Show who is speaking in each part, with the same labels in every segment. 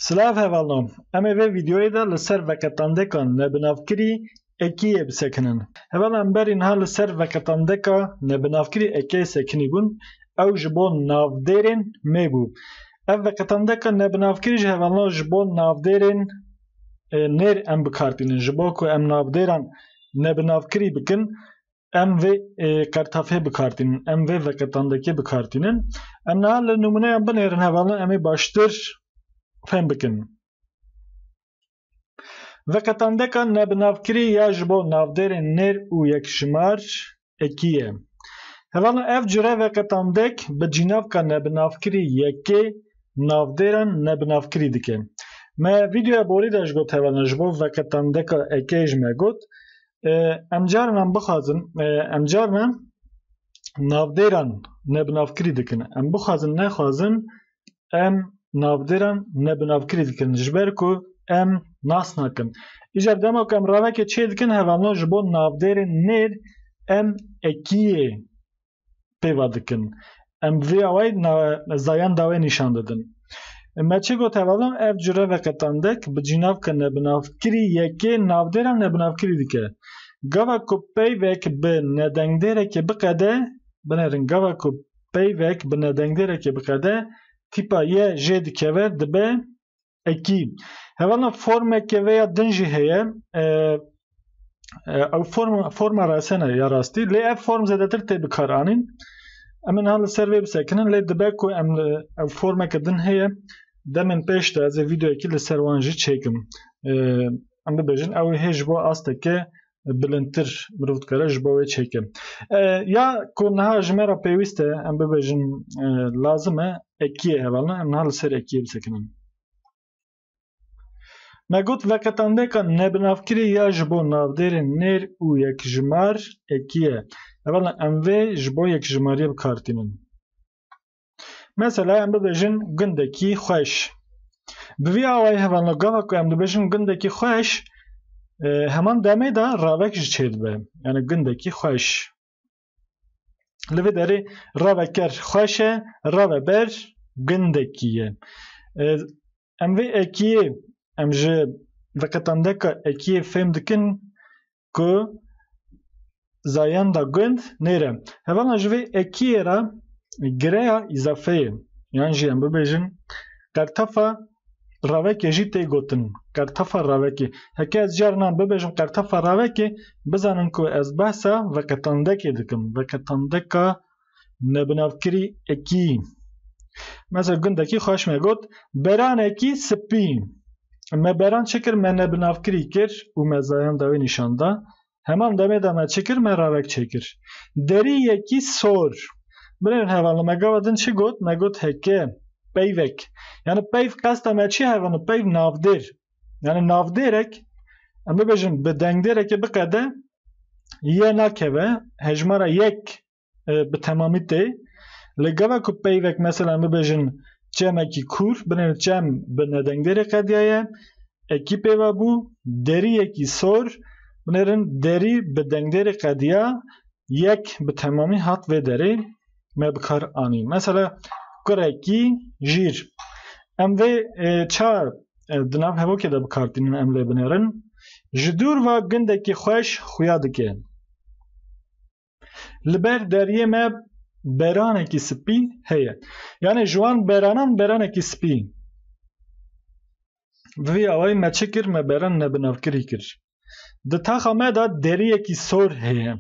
Speaker 1: Silav hevalnan, em ê vê vîdeoyê de li ser veqetandeka nebinavkirî ekiyê bisekinin. Heval em berî niha li ser veqetandeka nebinavkirî ekiyê sekinîbûn, ew ji bo navdêrên mê bû. Ev veqetandeka nebinavkirî ji hevalna ji bo navdêrên nêr em bikar tînin. Ji bo ku em navdêran nebinavkirî bikin, Em vê qertafê bikartînin, em vê veqetandekê bikartînin. Em niha li nûmûneyan binêrin hevalin em ê baştir fêm bikin. Veqetandeka nebinavkirî ya ji bo navdêrên nêr û yekjimar ekî ye. Hevalin ev cure veqetandek bi cînavka nebinavkirî yekê navdêran nebinavkirî dike. Me vîdeoya borî de ji got hevalin ji bo veqetandeka ekê ji me got Em carinan bixwazin em carinan navdêran nebinavkirî dikin. Em bixwazin nexwazin em navdêran nebinavkirî dikin ji ber ku em nas nakin. Îcar dema ku em ravekê çêdikin hevalno ji bo navdêrên nêr em ekiyê pêva dikin. Em vê awayî zayan dawê nîşan didin. Me çi got hevala ev cure veqetandek bi cînavka nebinavkirî yekê navdêra nebinavkirî dike. Gava ku peyvek bi nedengdêrekê biqede, binêrin gava ku peyvek bi nedengdêrekê biqede, tîpa ye jê dikeve dibe Ekî. Hevalna formeke vê ya din jî heye. Ew form forma resene ya rastî lê ev form zedetir tê bikar anîn. Em niha li ser vê bisekinin lê dibe ku em ew formeke din heye demên pêş de ez ê vîdeoyekî li ser wan jî çêkim. Em bibêjin ew hê ji bo asteke bilindtir mirov dikare ji bo wê çêke. Ya ku niha ji me re pêwîst e em bibêjin lazim e ekiyê hevalin em niha li ser ekiyê bisekinin. Me got veqetandeka nebinavkirî ya ji bo navdêrên nêr û yekjimar ekiyê. Hevalin em vê ji bo yekjimariyê bikar tînin. Mesela em bibêjin gundekî xweş. Bi vî awayî hevalna gava ku em dibêjin gundekî xweş e, heman demê de revek ji çê dibe. Yani gundekî xweş. Li vê derê reveker xweş e, reveber gundekî ye. E, Em vê ekiyê em ji veqetandeka ekiyê fêm dikin ku zayenda gund nêre. Hevala ji vê ekiyê re gireya îzafeyê yan jî em bibêjin qertefa ravekê jî tê gotin. Qertefa ravekê. Heke ez carina bibêjim qertefa ravekê bizanin ku ez behsa veqetandekê dikim. Veqetandeka nebinavkirî ekî. Mesela gundekî xweş me got beranekî sipî. Me beran çi kir me nebinavkirî kir û me zayan dawî nîşan da. Heman demê de me çi kir me ravek çêkir. Derî yekî sor. Binêrin hevalno me gava din çi got me got heke, peyvek. Yani peyv qesta me çi hevalno peyv navdêr. Yani navdêrek em bibêjin bi dengdêrekê biqede yê nakeve hejmara yek bi temamî tê li gava ku peyvek mesela bibêjin çemekî kûr binê çem bi nedengdêrê qediyaye ekî pêva bû derî yekî sor binêrin derî bi dengdêrê qediya yek bi temamî hat vê derê me bi kar anî mesela kurekî jîr em vê çar di nav hevokê de bikartînin em lê binêrin ji dûr va gundekî xweş xuya dike Li ber deriyê me beranekî spî heye. Yanê ji wan beranan beranekî spî. Bi vî awayî me çi kir me beran nebinavkirî kir. Di taxa me de deriyekî sor heye.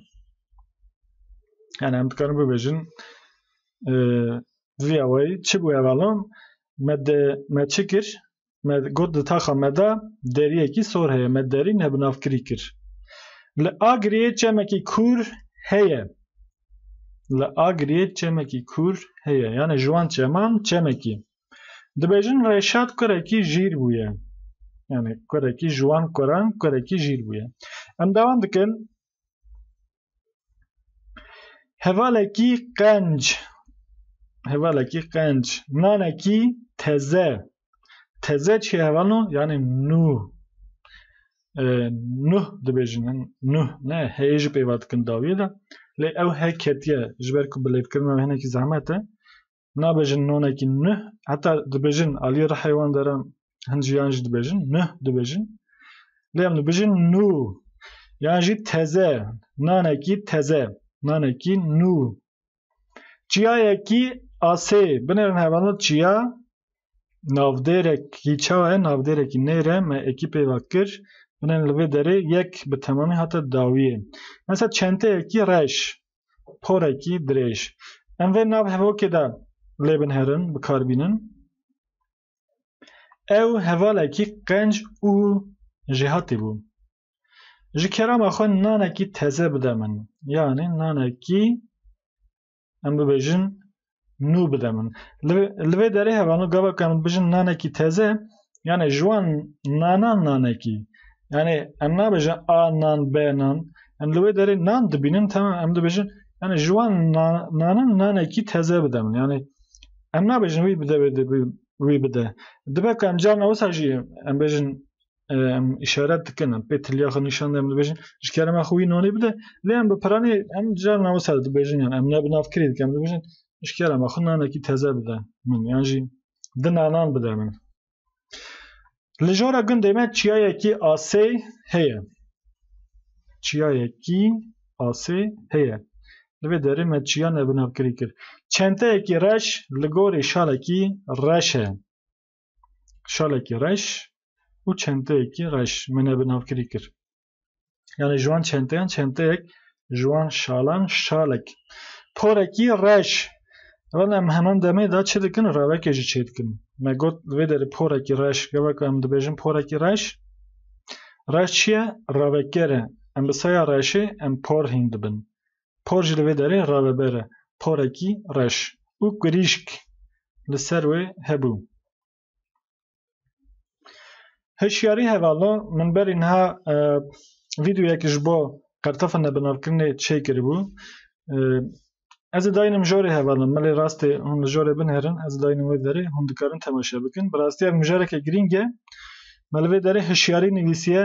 Speaker 1: Yani em dikarin bibêjin vî awayî çi bû hevalon me de me çi kir Me got di taxa me de deriyekî sor heye. Me derî ne bi navkirî kir. Li Agiriyê çemekî kûr heye. Li Agiriyê çemekî kûr heye. Yani ji wan çeman çemekî. Dibêjin Reşat kurekî jîr bûye. Yani kurekî ji wan kuran kurekî jîr bûye. Em dewan dikin. Hevalekî qenc hevalekî qenc nanekî teze teze çi hevano yani nû e, nuh dibêjin nuh ne heyê ji pêva dikin dawiyê de lê ew he ketiye ji ber ku bilêvkirina hinekî zehmet e nabêjin nonekî nuh heta dibêjin aliyê rihê wan deran hin jiyan jî dibêjin nuh dibêjin lê em dibêjin nû yan jî teze nanekî teze nanekî nû çiyayekî asê binêrin hevano çiya navdêrekî çawa ye navdêrekî nêre me ekî pêva kir binêrin li vê derê yek bi temamî hate dawiyê mesela çenteyekî reş porekî dirêj. Em vê nav hevokê de lê bin herin, bikar bînin. Ew hevalekî qenc û jêhatî bû. Ji kerama xwe nanekî teze bide min. Yanî nanekî em bibêjin nû bide min. Li vê derê hevano gava kan bijin nanekî teze yani ji wan nanan nanekî yani em nabêjin a nan b nan em li wê derê nan dibînin tamam em dibêjin yani ji wan nanan nanekî teze bide min yani em nabêjin wî bide wî bide dibe kam carna wisa jî em bêjin em işaret dikin em pê tiliya xwe nîşan em dibêjin ji kerema xwe wî nanê bide lê em bi piranê em car nava ser dibêjin yan em ne bi navkirê dikin em dibêjin ji kerema xwe nanekî teze bide min yan jî di nanan bide min li jora gundê me çiyayekî asê heye çiyayekî asê heye li vê derê me çiya ne bi navkirî kir çenteyekî reş li gorî şalekî reş e şalekî reş û çenteyekî reş min e bi navkirî kir. Yani ji wan çenteyan çenteyek ji wan şalan şalek. Porekî reş. Wan em heman demê de çi dikin rewekê jî çê dikin. Me got vê derê porekî reş gevek em dibêjin porekî reş. Reş çi ye? Reveker e. Em bi seya reşê em por hîn dibin. Por jî li vê derê reveber e, porekî reş û kurîşk li ser wê hebû. Hişyarî hevalo min berî niha vîdeoyek ji bo qertefa nebinavkirinê çêkiribû. Ez ê dayînim jorê hevalo, milê rastê hûn li jorê binêrin, ez ê dayînim wê derê, hûn dikarin temaşe bikin. Bi rastî ev mijareke girîng e. Me li vê derê hişyarî nivîsiye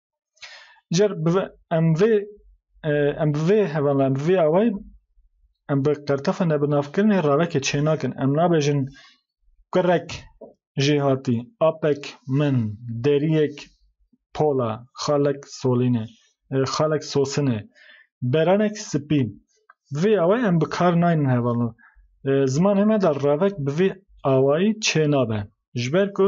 Speaker 1: Cer em vê em bi vê hevala em bi vê awayî em bi qertefa nebinavkirinê ravekê çênakin. Em nabêjin kurek jê hatî, apek min, deriyek pola, xalek solîne, xalek sosine, beranek spî. Bi vê awayî em bi kar naynin hevala. Zimanê me de ravek bi vê awayî çênabe. Ji ber ku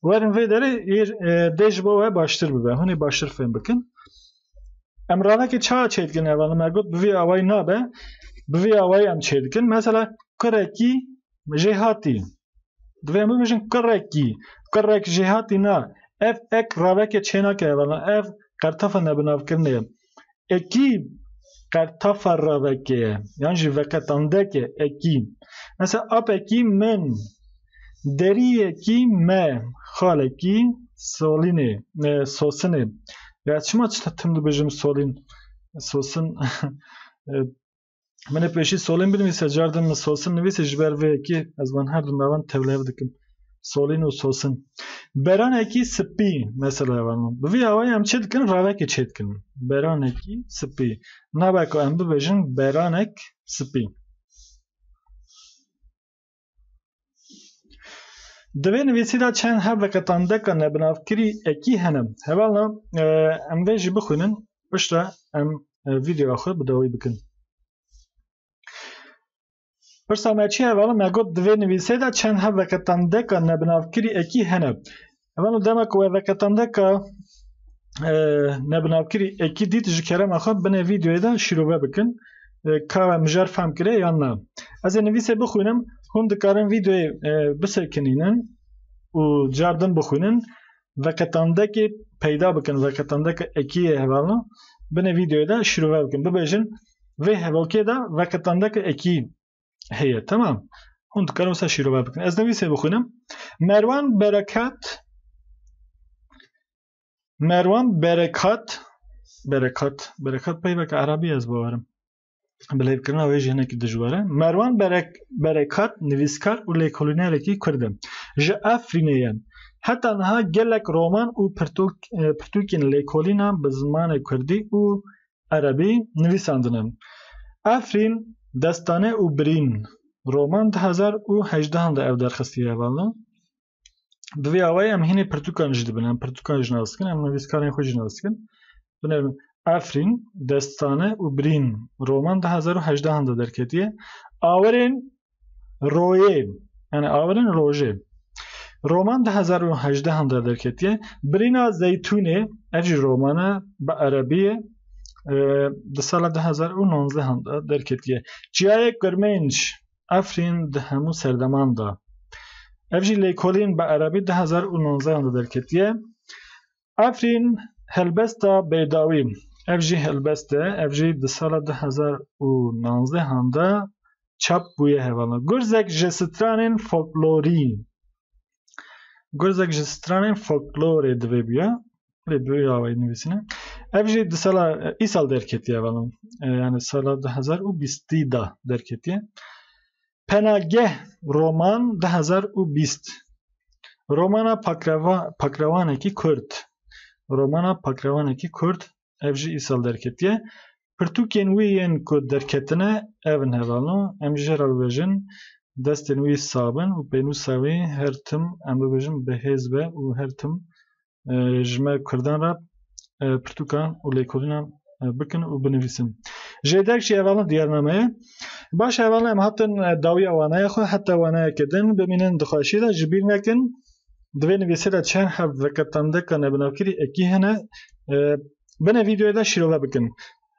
Speaker 1: Werin vê derê dê ji bo we baştir bibe. Hûnê baştir fêm bikin. Em ravekê ça çê dikin ev me got bi vî awayî nabe. Bi vî awayî em çê dikin. Mesela kurekî jê hatî. Divê bibêjin kurekî. Kurek jê hatî na. Ev ek ravekê çê nake ev ev qertefa nebinavkirinê ye. Ekî qertefa revekê ye yan jî veketandeke ekî. Mesela apekî min, deriyekî me, xalekî solînê, sosinê. Ya çima çi tim dibêjim solîn, sosin Min ê pêşî solîn binivîse car din min sosin nivîse ji ber vê yekê ez wan her du navan tevlihev dikim. Solîn û sosin. Beranekî spî mesela evan min. Bi vî awayî em çê dikin ravekê çê dikin. Beranekî spî. Nabe ku em bibêjin beranek spî. Di vê nivîsî de çend hev ve qetandeka nebinavkirî ekî hene. Hevalna em vê jî bixwînin piştre em vîdeoya xwe bi dawî bikin. Pirsa me çi hevala me got di vê nivîsê de çend hev ve qetandeka nebinavkirî ekî hene. Hemen o dema ku veveketamdeka e, nebinavkirî ekî dît ji kerema xwe binê vîdeoyê de şîrove bikin e, ka we mijar fehm kire yan na. Ez ê nivîsê bixwînim hûn dikarin vîdeoyê e, bisekinînin û car din bixwînin veketamdekê peyda bikin veketamdeka ekî yê hevalna binê vîdeoyê de şîrove bikin bibêjin vê hevalkê de veketamdeka ekî heye tamam hûn dikarin wisa şîrove bikin ez nivîsê bixwînim merwan berekat merwan berekat berekat berekat peyvek erabî ez bawerim bilêvkirina wê jî hinekî dijwar e merwan berek berekat nivîskar û lêkolînerekî kurd e ji efrînê ye Heta niha gelek roman û pirtûkên lêkolînan bi zimanê Kurdî û Erebî nivîsandin in. Efrîn, Destane û Birîn roman du hezar û hejdehan de ew derxistiye valla. Bi vê awayî em hînê pirtûkan jî dibin. Em pirtûkan jî nas dikin, em nivîskarên xwe jî nas dikin. Binêrin Efrîn, Destane û Birîn roman du hezar û hejdehan de derketiye. Awerên Royê yani awirin rojê. Roman 2018 de derketiye. Birîna Zeytûnê ev jî romana bi erebiyê e, di sala 2019 de derketiye. Çiyayê Kurmênc Efrîn di hemû serdeman de. Ev jî lêkolîn bi erebî 2019 de derketiye. Efrîn, Helbesta Beydawî, ev jî helbest e, ev jî di sala du hezar û navzdeh an de çap bûye hevala Gurzek ji stranên folklorî. Gurzek ji stranên folklorê divê bûya, lê bi wî awayî nivîsîne. Ev jî di sala îsal derketiye hevala, yani sala du hezar û bîstî de derketiye. Penageh roman du hezar û bîst Romana pakreva pakrewanekî kurd Romana pakrewanekî kurd ev jî îsal derketiye. Pirtûkên wî yên ku derketine ev in hevano em jê re bibêjin destên wî sabin û pênûsa wî her tim em bibêjin bi hêz be û her tim ji me Kurdan re pirtûkan û lêkolînan bikin û binivîsin. Jê derg jî hevalin diyarnameyê. Baş hevalin em hatin dawiya waneya xwe heta waneyeke din bimînin di xweşî de ji bîr nekin. Di vê nivîsê de çend hev veke tandeka nebinavkirî ekî hene. Binê vîdeoyê de şîrove bikin.